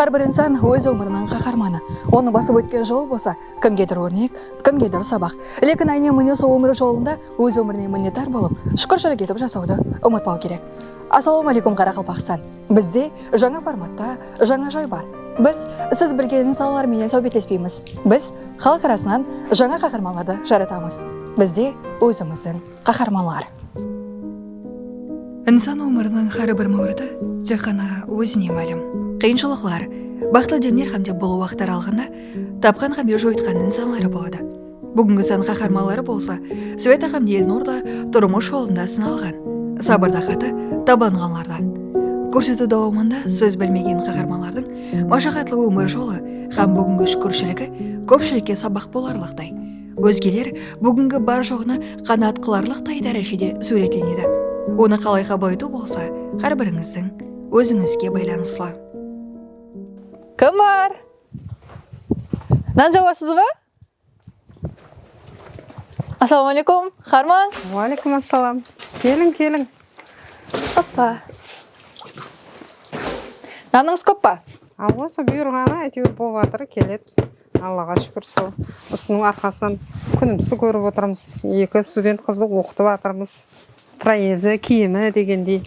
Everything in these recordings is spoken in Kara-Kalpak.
Hár bir insan óz ómiriniń qaharmanı. Onı basıp ótken jol bolsa, kimgedir órnek, kimgedir sabaq. Lekin áyne mine sol ómir jolında óz ómirine minnetar bolıp, shúkirshilk etip jasawdı umıtpaw kerek. Assalawma áleykum Qaraqalpaqstan. Bizde jańa formatta jańa joy bar. Biz siz bilgen insanlar menen sáwbetlespeymiz. Biz xalıq arasınan jańa qaharmanlardı jaratamız. Bizde ózimizdiń qaharmanlar. Insan ómiriniń xári bir máwriti tek ǵana ózine málim. Qıyınshılıqlar, baxıtlı demler xámde bul waqıt aralıǵında tapqan xámde joyıtqan insanları boladı. Búgingi sán qaharmanları bolsa Sveta hám Elnur da turmıs jolında sınalǵan, sabır taqatı tabanǵanlardan. Kórsetiw dawamında siz bilmegen qaharmanlardıń mashaqatlı ómir jolı hám búgingi shúkirshiligi kópshilikke sabaq bolarlıqtay. Ózgeler búgingi bar-joǵına qanaat qılarlıqtay dárejede súwretlenedi. Onı qalay qabıl etiw bolsa hár birińizdiń ózińizge baylanıslı. Kimbar? Nan jawasızba? Assalawma aleykum, Xarman! Wa aleykum assalam! Keliń, keliń! Oppa! Nanıńız kóp pa? Awa, sol buyırǵanı áyteuir bolıp atır, keledi. Allaǵa shúkir, sol usınıń arqasınan kúnimizdi kórip otırmız. Eki student qızdı oqıtıp atırmız. Proezi, kiyimi degendey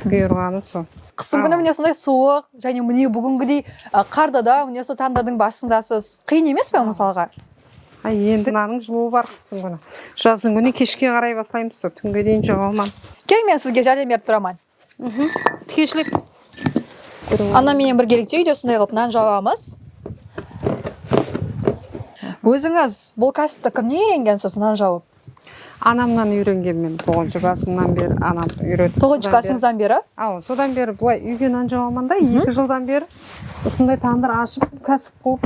buyırǵanı sol. Qısım kúni mine usınday suwıq jáne mine búgingidey qarda da mine usı tandırdıń basındasız. Qıyın emes pa mısalǵa? Há endi mınanıń jılıwı bar qıstıń kúni. Jazdıń kúni keshke qaray baslaymız sol túnge deyin jawa alman. Kel men sizge járem berip turaman. Tikenshilik kórip Anam menen birgelikte úyde usınday qılıp nan jabamız. Ózińiz bul kásipti kimnen úyrengensiz nan jawıp? Anamnan úyrengen men toǵız jasımnan beri anam úyretti. Toǵız jasıńızdan beri? Awa, sodan beri bılay úyge nan jabaman da, eki jıldan beri usınday tandır ashıp, kásip quvıp,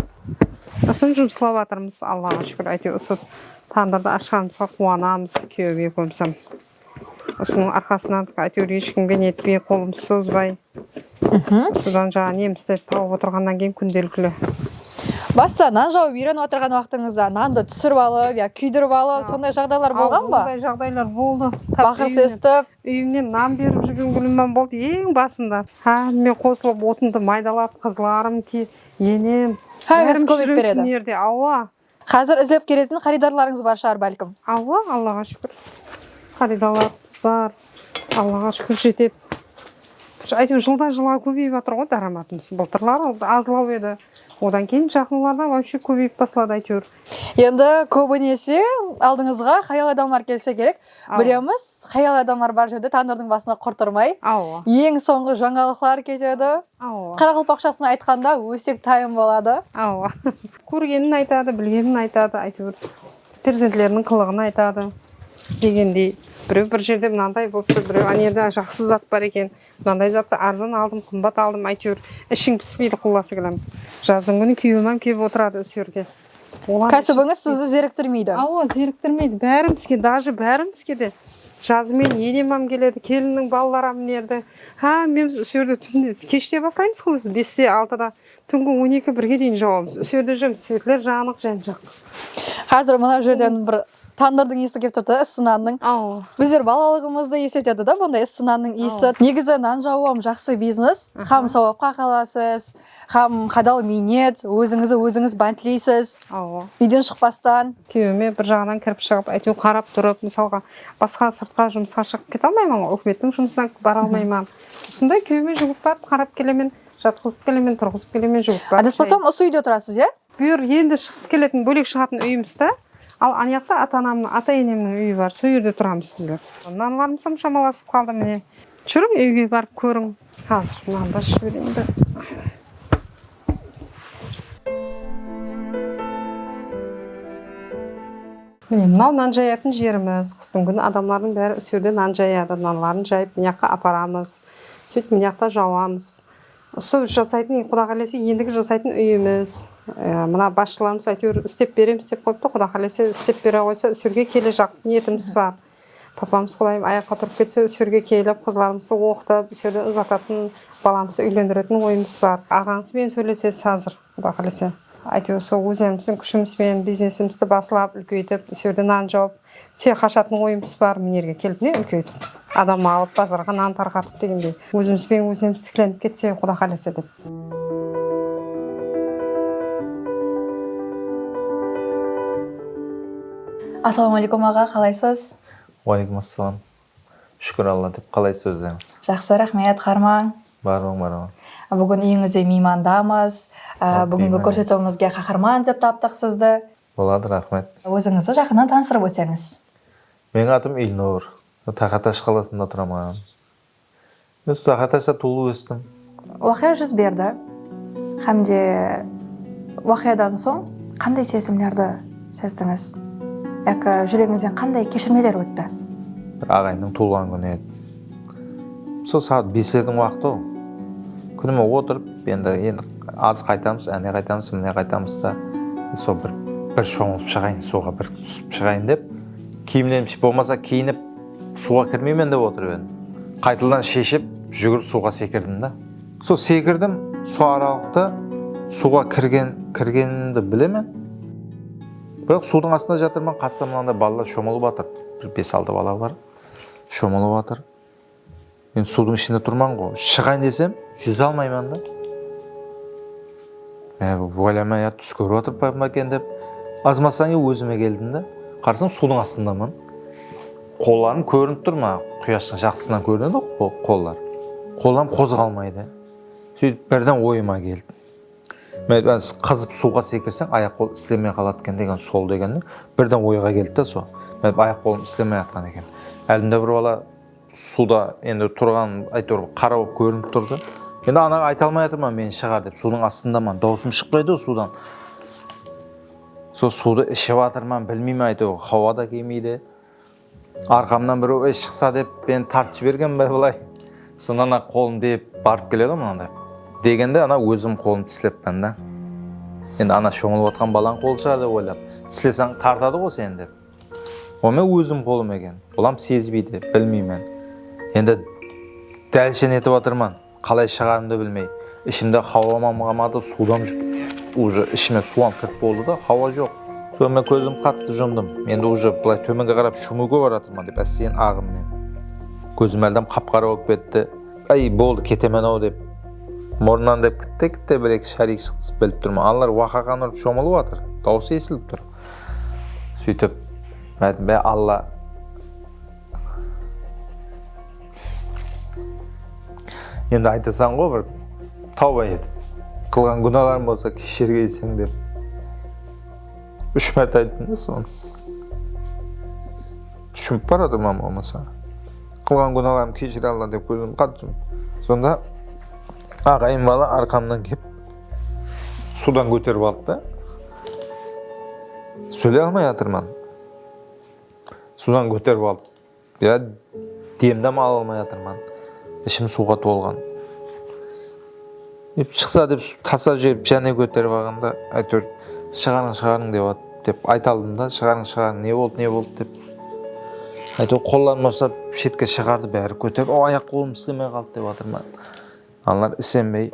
usın jumıslap atırmız. Allaǵa shúkir, áyteuir usı tandırdı ashqanımızǵa quwanamız kúyeuim ekeuimizem. Usınıń arqasınan ayteuir eshkimge netpey qolımdı sozbay usıdan jańa nemislerdi tauıp otırǵannan keyin kúndelikli. Basıda nan jauıp uirenip atırǵan uaqtıńızda nandı túsirip alıp ya kúydirip alıp sonday jaǵdaylar bolǵan ba? Onday jaǵdaylar boldı. Baqır sestip. Úyimnen nan berip júrgen gúlimam boldı eń basında. Hámme qosılıp otındı maydalap qızlarım, enem bárimiz júremiz mıyerde aua. Xázir izlep keletin xaridarlarıńız bar shıǵar bálkim. Awa Allaǵa shúkir xaridalarımız bar Allaǵa shúkir jetedi áyteuir jıldan jılǵa kóbeyip atırǵo dáramatımız bıltırlar azlaw edi odan keyin jaqınlarda vobshe kóbeyip basladı áyteuir. Endi kóbinese aldıńızǵa hayal adamlar kelse kerek Bilemiz, xayal adamlar bar jerde tandırdıń basına qurt urmay, eń sońǵı jańalıqlar ketedi. Qaraqalpaqshasına aytqanda ósek tayın boladı. Kórgenin aytadı, bilgenin aytadı, áytewir perzentleriniń qılıǵın aytadı degendey. Bireu bir jerde mınanday bolıptı, bireu anerde jaqsı zat bar eken. Mınanday zattı arzan aldım, qımbat aldım, áyteuir ishiń pispeydi qullası kelam. Jazdıń kúni kúyeuimam kelip otıradı usı jerge. Kásibińiz sizdi zeriktirmeydi. Awa, zeriktirmeydi. Bárimizge, dajı bárimizge de. Jazı meniń enemam keledi, kelinniń balalaram minerdi. Hámmemiz usı jerde túnde, keshte baslaymız ǵo biz beste, altıda, túngi on eki, birge deyin jauamız. Usı jerde júremiz, svetler janıq, ján-jaqtı. Xázir mına jerden bir Tandırdıń iyisi kelip turdı ıssı nannıń bizler balalıǵımızdı esletedi da bunday ıssı nannıń iyisi negizı nan jawıu hám jaqsı biznes hám sawapqa qalasız hám hadal miynet ózińizdi ózińiz bántleysiz úyden shıqpastan kúyewime bir jaǵınan kirip shıǵıp áyteu qarap turıp mısalǵa basqa sırtqa jumısqa shıǵıp kete almayman ǵoy úkimettiń jumısına bara almayman usınday kúyewime juwıp barıp qarap kelemen jatqızıp kelemen turǵızıp kelemen juwıp barıp adaspasamm usı úyde turasız ia Buyr endi shıǵıp keletin bólek shıǵatın úyimista al aniyaqta ata anamnıń ata enemniń úyi bar so jerde turamız bizler. Nanlarımızam shamalasıp qaldı mine. Júriń úyge barıp kóriń. Xazır nandı ashıp jibereyin bir. Mine mınau nan jayatın jerimiz qıstıń kúni adamlardıń bári usjerde nan jayadı nanların jayıp mıyaqqa aparamız sóytip mıyaqta jauamız Usı jasaytın eń quda qálese endigi jasaytın úyimiz mına basshılarımız áyteuir istep beremiz dep qoyıptı quda qálese istep bere qoysa úsirge kele jaqıp niyetimiz bar papamız qudayım ayaqqa turıp ketse úsirge kelip qızlarımızdı oqıtıp úsirden uzatatın balamızdı úylendiretiń oyımız bar aǵańız benen sóylesesiz xázir. Quda qálese. Áytewir sol ózlerimizdin kúshimiz benen biznesimizdi baslap, úlkeytip, isewde nan jawıp, sıyaq ashatuın oyımız bar. Mine erge kelip mine úlkeytip, adam alıp, bazarǵa nan tarqatıp degendey. Ózimiz benen ózlerimiz tiklenip ketsek, Quda qálese dep. Assalawma aleykum aǵa, qalaysız? Waleykum assalam. Shukir Alla dep qalaysiz ózlerińiz. Jaqsı raxmet Qarmań. Barlıǵın bar aǵam. Búgin úyińizde miymandamız. Búgingi kórsetiwimizge qaharman dep taptıq sizdi. Boladı raxmet. Ózińizdi jaqınnan tanıstırıp ótseńiz. Meniń atım Ilnur. Taqatash qalasında turaman. Men Ustaxa tasa tuwılıp óstim. Waqıya júz berdi hám de waqıyadan soń qanday sezimlerdi sezdińiz yaki júregińizden qanday keshirmeler ótti? Bir aǵayındıń tuwılǵan kúni edi. Sol saat beslerdiń waqıtı-aw. Kúnime otırıp, endi endi az qaytamız, áne qaytamız, mine qaytamız da, sol bir bir shońılıp shıǵayın, suwǵa bir túsip shıǵayın dep, kiyimlerim shıp bolmasa kiyinip, Suwǵa kirmeymen dep otırıp edim. Qaytadan sheship, júgirip suwǵa sekirdim da. Sol sekirdim, sol aralıqta suwǵa kirgen kirgenimdi bilemen. Biraq suwdıń astında jatırman, qasımda mınanday balalar shomılıp atır. Bir bes-altı bala bar, shomılıp atır. Men suwdıń ishinde turman ǵo, shıǵayın desem júze almayman da. Men oylayman ya tús kórip atırıp pa eken dep, azmasan e ózime keldim da. Qarasam suwdıń astındaman. Qollarım kórinip tur maǵan, quyashtıń jaqtısınan kórinedi ǵo qollar. Qollarım qozǵalmaydı. Sóytip birden oyıma keldi. Men qızıp suwǵa sekirseń ayaq qol islemey qaladı eken degen sol degen birden oyǵa keldi da so. Men ayaq qolım islemey atqan eken. Aldımda bir bala Suwda endi turǵanım áytewir bir qara bolıp kórinip turdı. Endi anaǵa ayta almay atırman men shıǵar dep suwdıń astındaman dawısım shıqpaydı-ǵo suwdan. Sol suwdı iship atırman bilmeymen áytewir hawa da kelmeydi. Arqamnan birew ey shıqsa dep meni tartıp jibergen be bılay. Sonda ana qolım dep barıp keledi-ǵo mınanday degende ana ózim qolımdı tislepmen da. Endi ana shońılıp atqan balań qolı shıǵar dep oylap tislesań tartadı-ǵo seni dep. Onı ózim qolım eken, olam sezbeydi, bilmeymen. Endi dálshen etip atırman, qalay shıǵarımdı bilmey. Ishimde xauamam qamadı, suwdam juttım. Uje ishime suwam kirip boldı da, xaua joq. Soń men kózimdi qattı jumdım. Endi uje bılay tómenge qarap shúńiwge baratırman, dep ásteyen aǵım men. Kózim áldam qap-qara bolıp ketti. Áy, boldı, ketemen-au, dep murınnan dep kitte-kitte bir-eki shárik shıqtısıp bilip turman. Anılar waqaǵan urıp shomılıp atır. Dauısı esilip tur. Sóytip, Mátinbay Alla endi aytasań ǵo bir tawba etip, qılǵan gúnalarım bolsa keshirgeyseń dep úsh márte ayttım da sonı. Túsinip bar atırman bolmasa. Qılǵan gúnalarımdı keshir Alla dep kózimdi qattı jumıp. Sonda aǵayın bala arqamnan kelip suwdan kóterip aldı da. Sóyley almay atırman. Suwdan kóterip alıp ya demdam ala almay atırman. Ishim suwǵa tolǵan. Dep shıqsa dep tasa júrip jáne kóterip alǵanda áytewir shıǵarıń shıǵarıń dep at dep ayta aldım da shıǵarıń shıǵarıń ne boldı ne boldı dep áytewir qollarımdı usap shetke shıǵardı bári kóterip o ayaq qolım islemey qaldı dep atırman. Anlar isenbey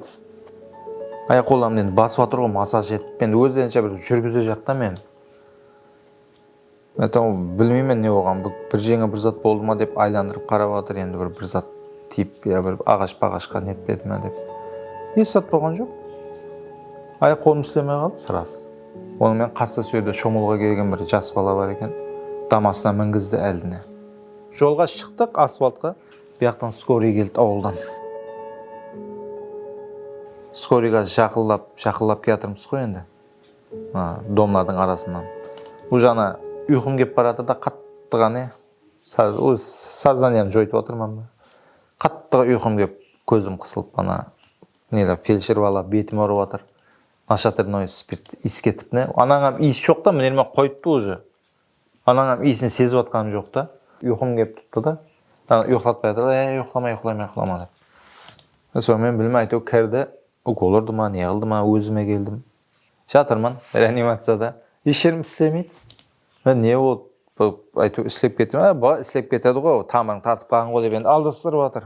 ayaq qollarımdı endi basıp atır ǵoy massaj etip endi ózlerinshe bir júrgize jaqta men aytam bilmeymen ne bolǵanın bir bir jeńe bir zat boldı ma dep aylandırıp qarap atır endi bir bir zat tiyip ya bir aǵash paǵashqa netpedi ma dep esh zat bolǵan joq ayaq qolım islemey qaldı sraz onı menen qasta so jerde shomılǵa kelgen bir jas bala bar eken damasına mingizdi aldine jolǵa shıqtıq asfaltqa Buyaqtan skoriy keldi awıldan. Skoriy kazir jaqınlap jaqınlap kiyatırmız ǵoy endi mına domlardıń arasınan uje ana uyqım kelip baratırda qattıǵa ne óz soznaniyamdı joytıp atırman ba qattıǵa uyqım kelip kózim qısılıp ana neler feldsher bala betim urıp atır nashatırnoy spirt iyis ketip ne anaǵam iyis joqta mınerman qoyıptı uje Anańam iyisin sezip atqanı joq ta. Uyqım kelip turıptı da. Uyıqlatpay atır da, e, uyıqlama, uyıqlama, uyıqlama dep. Sońı men bilmey áyteu kirdi. Ukol urdı ma, ne qıldı ma, ózime keldim. Jatırmın reanimaciyada. Esh jerim islemeydi. Men ne boldı, bir áyteu islep ketti ma, e, bala islep ketedi ǵo, tamırıń tartıp qalǵan ǵo dep endi aldastırıp atır.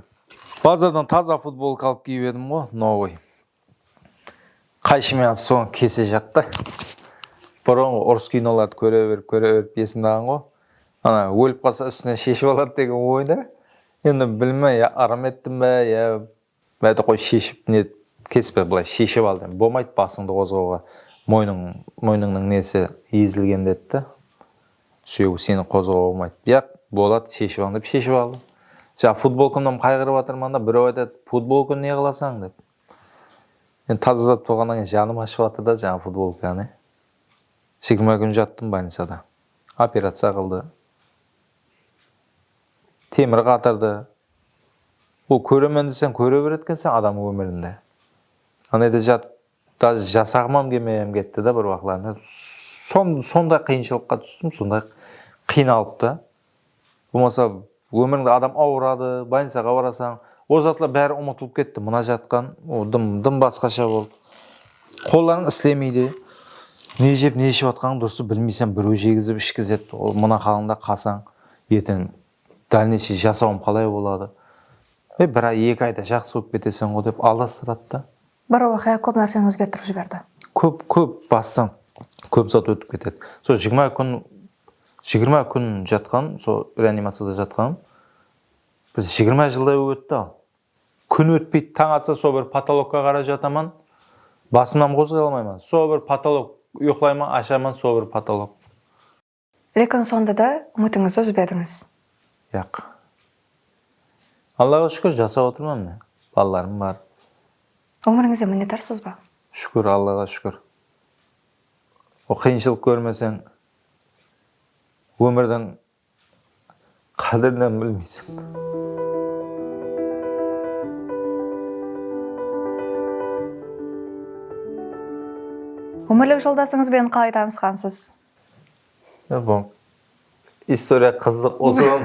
Bazardan taza futbolka alıp kiyip edim ǵo, novoy. Qayshımen atı sońǵı kese jaqta burınǵı urıs kinolardı kóre berip kóre berip esimdaǵan ǵo ana ólip qalsa ústinen sheship aladı degen oyda endi bilmey ya ırım ettim be ya bádi qoy sheship ne kespe bılay sheship aldı endi bomaydı basıńdı qozǵauǵa moynıń moynıńnıń nesi ezilgen dedi de Súyew seni qozǵauǵa bolmaydı. Biyaq boladı sheship al dep sheship aldı. Jaǵı futbolkamdan qayǵırıp atırman da bireu aytadı futbolka ne qılasań dep. Endi taza zat bolǵannan keyin janım ashıp atır da jaǵı futbolkanı. Jigirma kún jattım bolnicada. Operaciya qıldı. Temir qatırdı. Ol kóremen deseń kóre beretuǵın ekensen adam ómirinde. Anayda jatıp Daz jasaǵımam kelmey ham ketti da bir waqıtlarında. Sonday qıyınshılıqqa tústim, sonday qıynalıp ta. Bolmasa ómirińde adam awıradı, bolnicaǵa barasań, ol zatlar bári umıtılıp ketti, mına jatqan dım basqasha boldı. Qollarıń islemeydi, ne jep, ne iship atqanıń durısı bilmeysen, birew jegizip ishkizedi, ol mına halıńda qalsań, erteń dálneyshey jasawım qalay boladı, e bir ay, eki ayda jaqsı bolıp keteseńǵo dep aldastıradı da. Bir waqıya kóp nárseni ózgertirip jiberdi. Kóp, kóp, bastan kóp zat ótip ketedi. Sol jigirma kún, jigirma kún jatqan, sol reanimaciyada jatqanım bir jigirma jılday bolıp ótti al. Kún ótpeydi, tań atsa sol bir potolokka qaray jataman, basımnan qozǵay almayman. Sol bir potolok, uyıqlayman, ashaman, sol bir potolok. Lekin sonda da umitińizdi uzbedińiz. Yaq. Allaǵa shúkir jasap otırman mine. Balalarım bar. Ómirińizden minnetarsız ba? Shúkir, Allaǵa shúkir. Ol qıyınshılıq kórmeseń, ómirdiń qádirinen bilmeysiń. Ómirlik joldasıńızben qalay tanısqansız? Bul istoriya qızıq ushın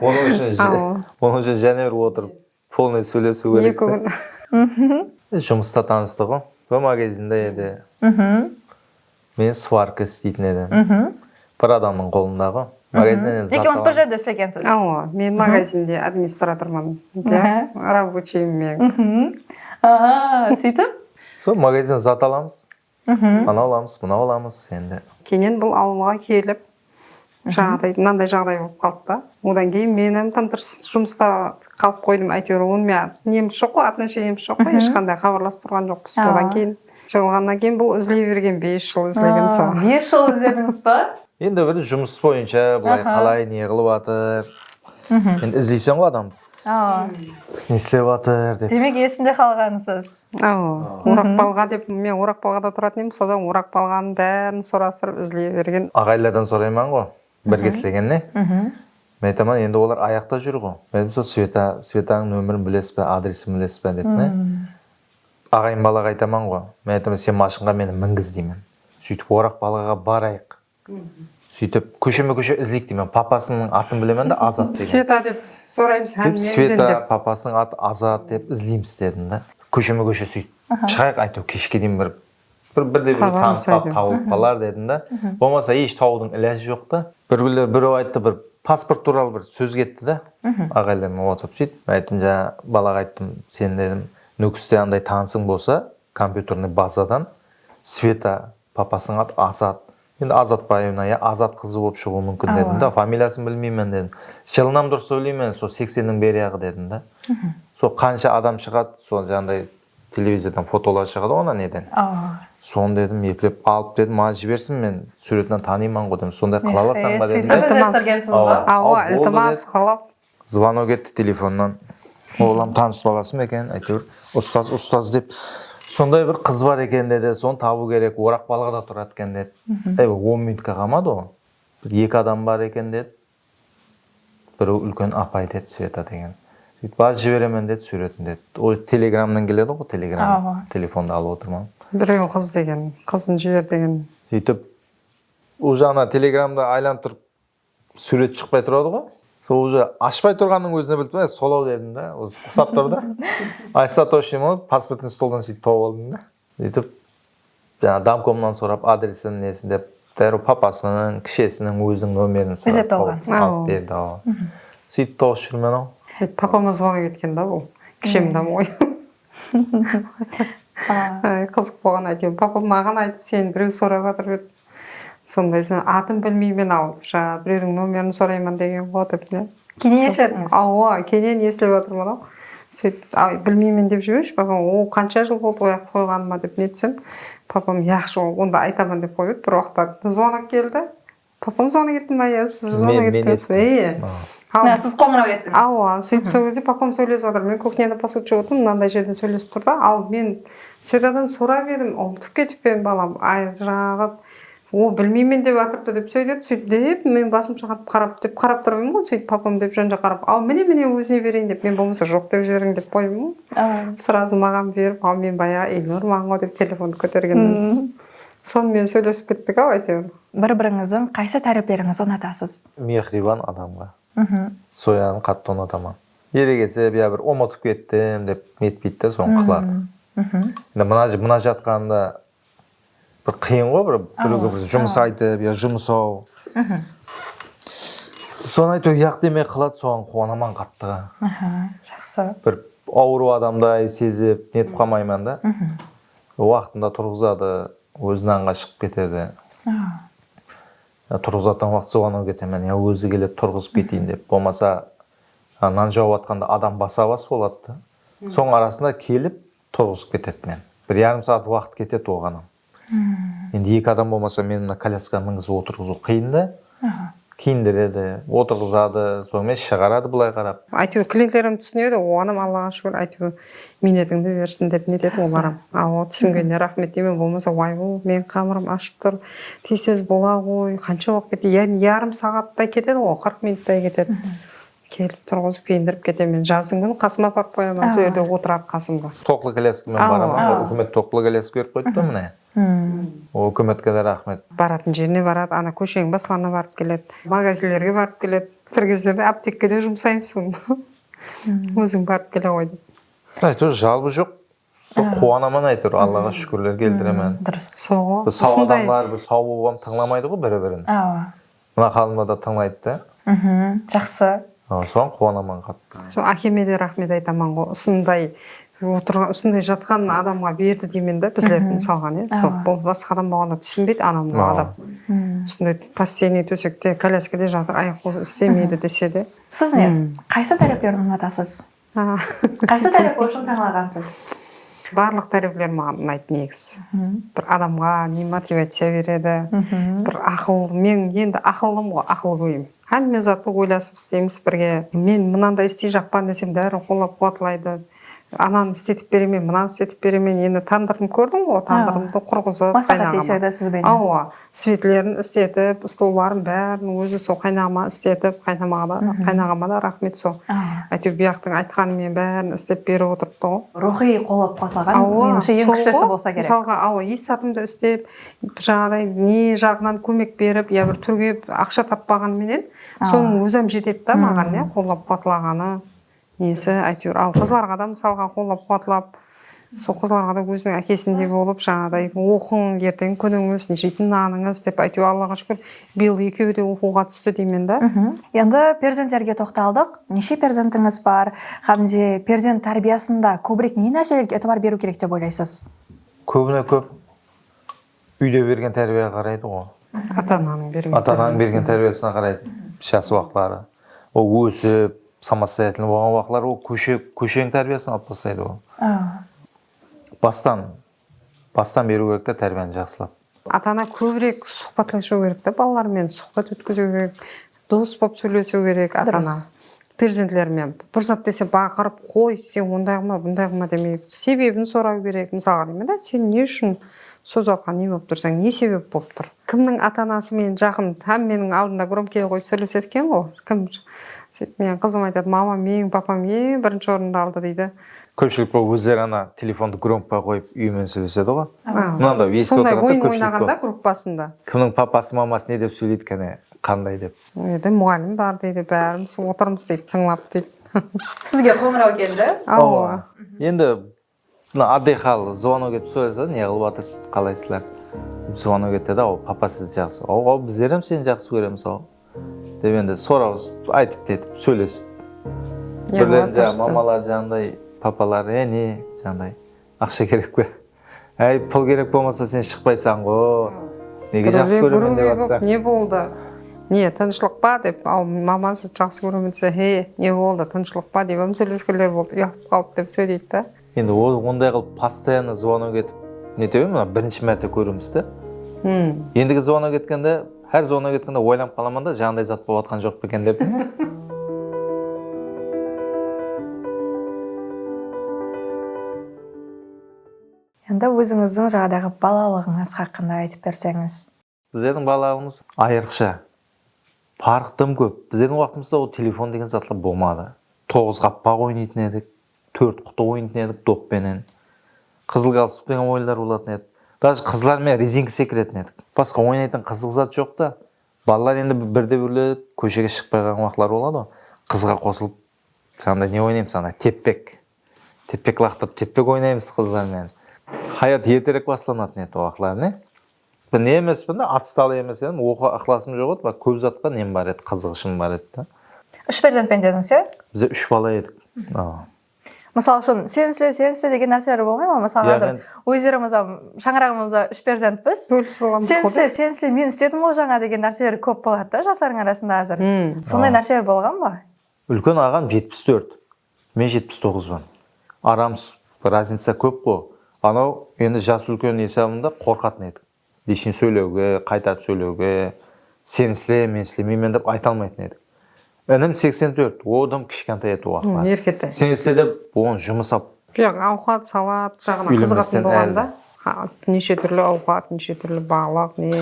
onıń ushın jáne bir otırıp polnoy sóylesiw kerek te. Jumısta tanıstıǵo. Bir magazinda edi. Men svarka isleytin edim. Bir adamnıń qolındaǵo. Magazinden endi zat alamız. Ekeuıńız bir jerde islegensiz. Awa, men magazinde administratorman. Rabociyim men. Aa, sóytip? Sol magazinden zat alamız. Anau alamız, mınau alamız endi. Keyin bul awılǵa kelip, jaǵıday mınanday jaǵıday bolıp qaldı da. Odan keyin men hám tam durıs jumısta qalıp qoydım, áyteuir onıń meniń nemiz joq qoy, atnasheniya nemiz joq qoy, hesh qanday xabarlasıp turǵan joqpız. Odan keyin jıǵılǵannan keyin bul izley bergen, bes jıl izlegen sol. Bes jıl izledińiz ba? Endi bir jumıs boyınsha bılay qalay, ne qılıp atır, endi izleysen ǵoy adamdı. Ne islep atır dep. Demek esinde qalǵansız. Oraqbalǵa dep men Oraqbalǵada turatan edim sodan Oraqbalǵanın bárin sorastırıp izley bergen. Aǵaylardan soraymanǵo birge islegenne men aytaman endi olar ayaqta júrǵo men aytım sol Sveta Svetańıń nomerin bilesizbe adresin bilesizbe dep ne aǵayın balaǵa aytamanǵo men aytaman sen mashınǵa meni mingiz deymen sóytip Oraqbalǵaǵa barayıq Sóytip kósheme-kóshe izleyik deymen. Papasınıń atın bilemen de, Azat deymen. Sveta dep soraymız hám menen de. Sveta, papasınıń atı Azat dep izleymiz dedim de. Kósheme-kóshe sóytip shıǵayıq, aytew keshke deyin bir birde-birewdi tanıp qalıp tawılıp qalar dedim de. Bolmasa esh tawıwdıń ilajı joq ta. Bir kúnler birew ayttı, bir pasport tuwralı bir sóz ketti de, aǵaylarmen otırıp sóytip. Men ayttım, jańa balaǵa ayttım, sen dedim, Nókiste anday tanısıń bolsa, kompyuternoy bazadan Sveta Papasınıń atı Azat. Endi Azatbaevna ya Azat qızı bolıp shıǵıwı múmkin dedim da, familiyasın bilmeymen dedim. Jılınam durıs sóyleymen, sol seksenniń beriyaǵı dedim da. Sol qansha adam shıǵadı, sol janday televizordan fotoları shıǵadı ona neden. Sonı dedim eplep alıp dedim maǵan jibersin men súretinan tanıymanǵo dedim. Sonday qıla alasańba dedim de. Iltimas qılıp. Zvanok etti telefonnan. Ol ham tanıs balası ma eken, áyteuir ustaz ustaz dep sonday bir qız bar eken dedi, sonı tabıu kerek, Oraqbalıǵıda turadı eken dedi. Ey on minutke qalmadı ǵo, bir eki adam bar eken dedi, bireu úlken apay dedi, Sveta degen, sóytip bazı jiberemen dedi súuretin dedi, ol telegramnan keledi ǵo, telegram telefondı alıp otırman. Bireu qız degen, qızın jiber degen. Sóytip ol jaǵına telegramda aylanıp turıp Súúret shıqpay turadı ǵo sol úje ashpay turǵannıń ózine bilip e solaw dedim da ózi usap tur da aytsa toshniy bolıp pasportniy stoldan suytip tawıp aldım da úytip jańa domkomnan sorap adresin nesin dep dárriw papasınıń kishesiniń óziniń nomerin sraz tawıp alıp berdi awa suytip tawıs júrmen aw seni papamaz bolıp ketken da bul kishem domboy. Ay qızıq bolǵan áyteuir papa maǵan aytıp seni bireu sorap atır dep sonday sen atın bilmeymen al jańa bireuriń nomerin sorayman degenǵo dep ne kenesledińiz awa kene ne islep atırmanau sóytip ay bilmeymen dep jiberushi papam o qansha jıl boldı oyaqtı qoyǵanıma dep netsen papam yaqshı onda aytaman dep qoyıp edi bir uaqıtlar zvonok keldi Papam sonı etti ma ya siz sonı ettińiz ba? Men ettim. Iyya. Ya siz qońıraw ettińiz. Awa, sóytip sol gezde papam sóylesip atır. Men kuxnyada posud juwıp atırmın, mınanday jerden sóylesip tur da, al men Sedadan sorap edim, umıtıp ketip pem balam, ajıraǵıp, o bilmeymen dep atırdı dep sóydedi, sóytip dep men basım shıǵarıp qarap, dep qarap tur edim ǵoy, sóytip papam dep jan jaqqa qarap, al mine mine ózine bereyin dep men bolmasa joq dep jiberiń dep qoyıp'ın ǵoy. Srazı maǵan berip, al men bayaǵı elni urmaǵın ǵoy dep telefondı kótergenmenen. Sonımen sóylesip kettik-aw áyteuir. Bir-birińizdiń qaysı táreplerińizdi unatasız? Mehriban adamǵa. Zoyanı qattı unataman. Eregesip ya bir umıtıp kettim dep netpeydi de sonı qıladı. Endi mına jatqanında bir qıyın ǵoy bir birewge bir jumıs aytıp ya jumıs-aw. Sonı áyteu yaq demey qıladı soǵan quwanaman qattı. Jaqsı. Bir awırıw adamday sezip netip qalmayman da. Waqtında turǵızadı, ózi nanǵa shıǵıp ketedi. Yaa turǵızıp atırǵan waqtı zuwanaw ketemen, yaa ózi keledi turǵızıp keteyin dep, bolmasa nan jawıp atqanda adam basa-bas boladı da, sonıń arasında kelip turǵızıp ketedi. Men bir yarım saat waqıt ketedi oǵan ham. Endi eki adam bolmasa meni mına kolyaskaǵa mingizip otırǵızıw qıyın da. Kiyindiredi, otırǵızadı, sonımen shıǵaradı bılay qarap. Áytewir klientlerim túsinedi, oǵanam Allaǵa shúkir áytewir miynetińdi bersin dep netetuǵın olarem. Awo túsingenine raxmet deymen, bolmasa waybo meniń qamırım ashıp tur, tez tez bolaǵoy, qansha waqıt ketedi, yáni yarım saǵattay ketediǵo, qırq minuttay ketedi. Kelip turǵızıp kiyindirip ketemen. Jazdıń kúni qasıma aparıp qoyaman, sol jerde otıradı qasımda. Toqlı kolyaskamen baraman, úkimet toqlı kolyaska berip qoyıptı mine. Hum. Ol kim etkenler raxmet. Baratın jerine baradı ana kósheniń baslarına barıp keledi magazinlerge barıp keledi bir gezlerde aptekkede jumsayım son óziń barıp keleǵoy dep. Áytewir jalbı joq sol quwanaman áytewir Allaǵa shúkirler keltiremen durıs solǵo usınday biz saw odamlar biz saw bolıp am tıńlamaydıǵo biri birin awa Mına xanımdı da tıńlaydı da. Mhmm jaqsı. Soǵan quwanaman qattı. Sol ákeme de raxmet aytamanǵo usınday otırǵan usınday jatqan adamǵa berdi deymen da bizlerdi mısalǵa ne sol bul basqa adam bolǵanda túsinbeydi anau mınau adam usınday postenniy tósekte kolyaskada jatır ayaq qolı istemeydi dese de. Siz ne qaysı táreplerdi unatasız Qaysı tárep ushın tańlaǵansız? Barlıq tárepler maǵan unaydı negizı. Bir adamǵa ne motivaciya beredi, bir aqıl, men endi aqıllım ǵo, aqılgóyim. Hámme zattı oylasıp isteymiz birge. Men mınanday istey jaqpan desem bárin qollap-quwatlaydı. Ananı istetip beremen, mınanı istetip beremen. Endi tandırım kórdiń ǵo, tandırımdı qurǵızıp, qaynaǵıma. Maslaxatlesedi siz benen. Awa, Svetlerin istetip stolların bárin ózi so qaynaǵama istetip qaynaǵama da raxmet so áyteu buyaqtıń aytqanın men bárin istep berip otırıptı ǵo. Ruxıy qolap quwatlaǵan menimshe eń kúshlisi bolsa kerek. Misalǵa awa es zatımdı istep jaǵıday ne jaǵınan kómek berip ya bir túrgep aqsha tappaǵanı menen sonıń ózam jetedi da maǵan ya qollap quwatlaǵanı. Nesi aytewir al qızlarǵa da mısalǵa qollap quwatlap sol qızlarǵa da óziniń ákesindey bolıp jańadaǵıday oqıń erteń kúnińiz jeytin nanıńız dep áytew allaǵa shúkir bıyıl ekewi de oqıwǵa tústi deymen da. Endi perzentlerge toqtaldıq neshe perzentińiz bar hám de perzent tárbiyasında kóbirek ne nárselerge itibar beriw kerek dep oylaysız? Kóbine kóp Úyde bergen tárbiyage qaraydı ǵo. Ata ananıń bergen Ata ananıń bergen tárbiyasına qaraydı jası waqıtları ol ósip samostoyatelnıy bolǵan waqıtları ol kóshe kósheniń tárbiyasına alıp taslaydı ol bastan bastan beriu kerek ta tárbiyanı jaqsılap. Ata ana kóbirek suxbatlasıu kerek ta balalar menen suxbat ótkeziu kerek Durıs bolıp sóylesiu kerek ata ana perzentlerinen bir zat dese baqırıp qoy sen onday qılma bunday qılma demey sebebin sorau kerek mısalǵa deymen da sen ne ushın soz arqalı ne bolıp tursań ne sebep bolıp tur kimniń ata anası menen jaqın hám meniń aldımda gromkiyge qoyıp sóylesedi eken ǵo kim sóytip meniń qızım aytadı mamam eń papam eń birinshi orındı aldı deydi. Kópshilik bolıp ózleri ana telefondı gromkıga qoyıp úyi menen sóylesedi ǵo mınaday sonday oyn oynaganda gruppasında kimniń papası maması ne dep sóyleydi kane Qanday dep? Ol jerde muǵallim bar deydi, bárimiz otırmız deydi, tıńlap deydi. Sizge qońıraw keldi? Awa. Endi mına oddiy hal, zvonok etip sóylese, ne qılıp atırsız, qalaysızlar? dep zvonok etedi, awa, papa sizdi jaqsı, awa, bizlerem seni jaqsı kóremiz, awa, dep endi sorawısıp, aytıp netip, sóylesip. Birden jaǵı mamalar jaǵınday, papalar, e, ne, jaǵınday, aqsha kerek pe? Áy pul kerek bolmasa sen shıqpaysańǵo nege jaqsı kóremen dep atsań. Ne boldı ne tınıshlıq pa dep al maman sizdi jaqsı kóremen dese he ne boldı tınıshlıq pa deyman sóyleskenler boldı uyalıp qalıp dep sóyleydi da. Endi ol onday qılıp postoyanno zvonok etip netewin mına birinshi márte kóriwimiz da endigi zvonok etkende hár zvonok etkende oylanıp qalaman da janınday zat bolıp atqan joq pa eken dep. Endi ózińizdiń jaǵdayǵı balalıǵıńız xaqqında aytıp berseńiz. Bizlerdiń balalıǵımız ayırıqsha. Parıq dım kóp. Bizlerdiń waqtımızda ol telefon degen zatlar bolmadı. Toǵız qappaq oynaytın edik. Tórt qutı oynaytın edik dop penen. Qızıl galstuk degen oyınlar bolatın edi. Dajı qızlar menen rezinka sekiretin edik. Basqa oynaytın qızıq zat joq ta. Balalar endi birde birler kóshege shıqpay qalǵan waqıtları boladı ǵo. Qızǵa qosılıp, Sen anda ne oynaymsıń, anda teppek. Tepek laqtırıp tepek oynaymız qızlarmen. Hayat erterek baslanatın edi o waqıtları ne? Bir ne emes bir de otstalı emes edim, oqıwǵa ıqlasım joq edi, biraq kóp zatqa nem bar edi, qızıǵıshım bar edi da. Úsh perzentpen dediniz ya? Bizler úsh bala edik. Mısal ushın sen isle, sen isle degen nárseler bolmay ma? Mısal házir ózlerimiz ham shańaraǵımızda úsh perzentpiz. Bólisis bolamız ǵo. Sen isle, sen isle, men isledim ǵo jańa degen nárseler kóp boladı da jaslardıń arasında házir. Sonday nárseler bolǵan ba? Úlken aǵam jetpis tórt, Men jetpis toǵızban. Aramız raznica kóp ǵo. Anau endi jası úlken esabında qorqatın edik. Lichin sóyleuge, qaytatp sóyleuge, sen isle, men islemeymen dep ayta almaytın edik. Inim seksen tórt, o dım kishkantay edi o waqıtlar. Hım, erketay. Sen isle dep oǵan jumıs ap. Joq, awqat, salat jaǵına qızıǵatın bolǵan da. Neshe túrli awqat, neshe túrli balıq, ne,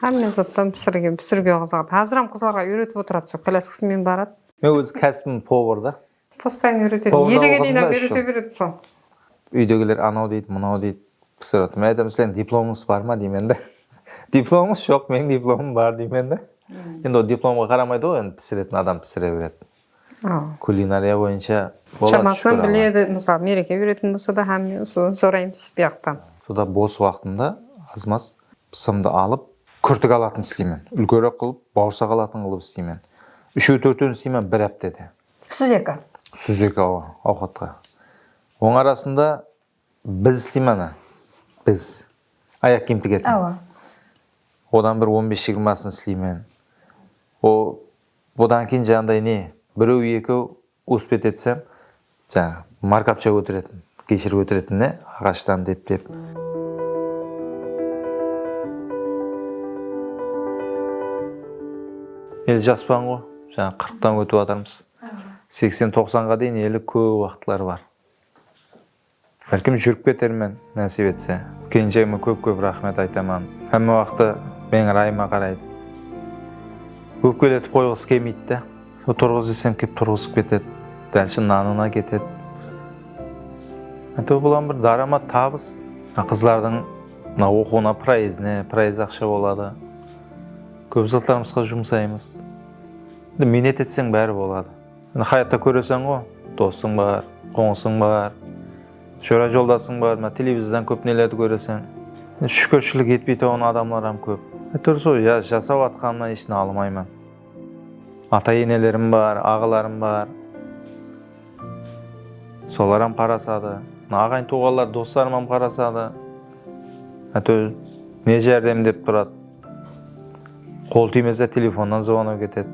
hámme zattan pisirgen, pisiriuge qızıǵadı. Háziram qızlarǵa úyretip otırad, sol kolyaskasımen baradı. Men óz kásibim povor da. Postayn úyretedi. Elegeniy nam úyrete beredi sol. Úydegiler anaw deydi, mınaw deydi, pısıradı. Men aytamın, sizlerdiń diplomıńız bar ma deymen da. Diplomıńız joq, meniń diplomım bar deymen da. Endi ol diplomǵa qaramaydı ǵoy, endi pisiretin adam pisire beredi. Kulinariya boyınsha boladı. Shamasınan biledi, mısalı mereke berетін bolsa da hámme usı sorayımız buyaqtan. Sonda bos waqtımda az-maz Pısımdı alıp, kúrtik alatın isleymen. Úlkerek qılıp, bawırsaq alatın qılıp isleymen. Úshew-tórtewin isleymen bir háptede. Súzeki. Súzeki awa, awqatqa. Onıń arasında biz isleymen ana, biz. Ayaq kiyim tigetin. Awa. Odan bir on bes jigirmasın isleymen. O, odan keyin janıday ne, birew-ekew Uspet etsem, jańa, markapsha kóteretin, geshir kóteretin ne, aǵashtan dep-dep. Eli jaspan-ǵo, jańa qırıqtan kótip atırmız. Seksen-toqsanǵa deyin eli kóp waqıtlar bar. Bálkim júrip ketermen, násip etse. Kelinshegime kóp-kóp raxmet aytaman. Hámme waqtı meniń ırayıma qaraydı. Ópkeletip qoyǵısı kelmeydi de. Sol turǵız desem kelip turǵızıp ketedi. Dál shın nanına ketedi. Áytewir bul ham bir dáramat, tabıs. Mına qızlardıń mına oqıwına proezdine, proezd aqsha boladı. Kóp zatlarımızǵa jumsaymız. Miynet etseń bári boladı. Endi hayatta kóreseńǵo, dosıń bar, qońısıń bar, jora joldasıń bar, mına televizordan kóp nelerdi kóreseń. Endi shúkirshilik etpeytuǵın adamlar ham kóp. Áytewir sol jasap atqanımnan esh nalımayman. Ata enelerim bar, aǵalarım bar. Solar ham qarasadı. Mına aǵayn tuwǵanlar, doslarım ham qarasadı. Áytewir ne járdem dep turadı. Qol tiymese telefonnan zvonok etedi.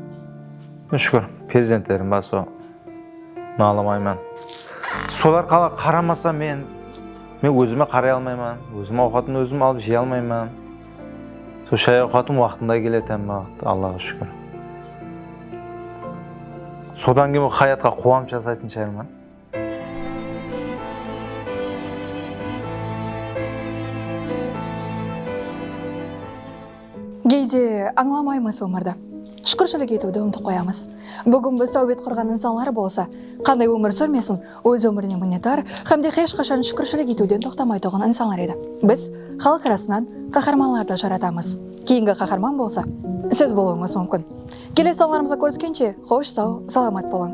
Mine shúkir perzentlerim bar so nalımayman. Solar qala qaramasa men men ózime qaray almayman, ózim awqatımdı ózim alıp jey almayman. So shay awqatım waqtında keledi hámme waqıt Allaǵa shúkir. Sodan keyin bul hayatqa quwanıp jasaytın shayırman. Geyde ańlamaymız ómirdi. Shúkirshilik etiwdi umıtıp qoyamız. Búgin biz táwbet qurǵan insanlar bolsa, qanday ómir súrmesin, óz ómirine minnetdar hám de hesh qashan shúkirshilik etiwden toqtamaytuǵın insanlar edi. Biz xalıq arasınan qaharmanlardı jaratamız. Keyingi qaharman bolsa, siz bolıwıńız múmkin. Kelesi sanlarımızda kóriskenshe, xosh saw, salamat bolıń!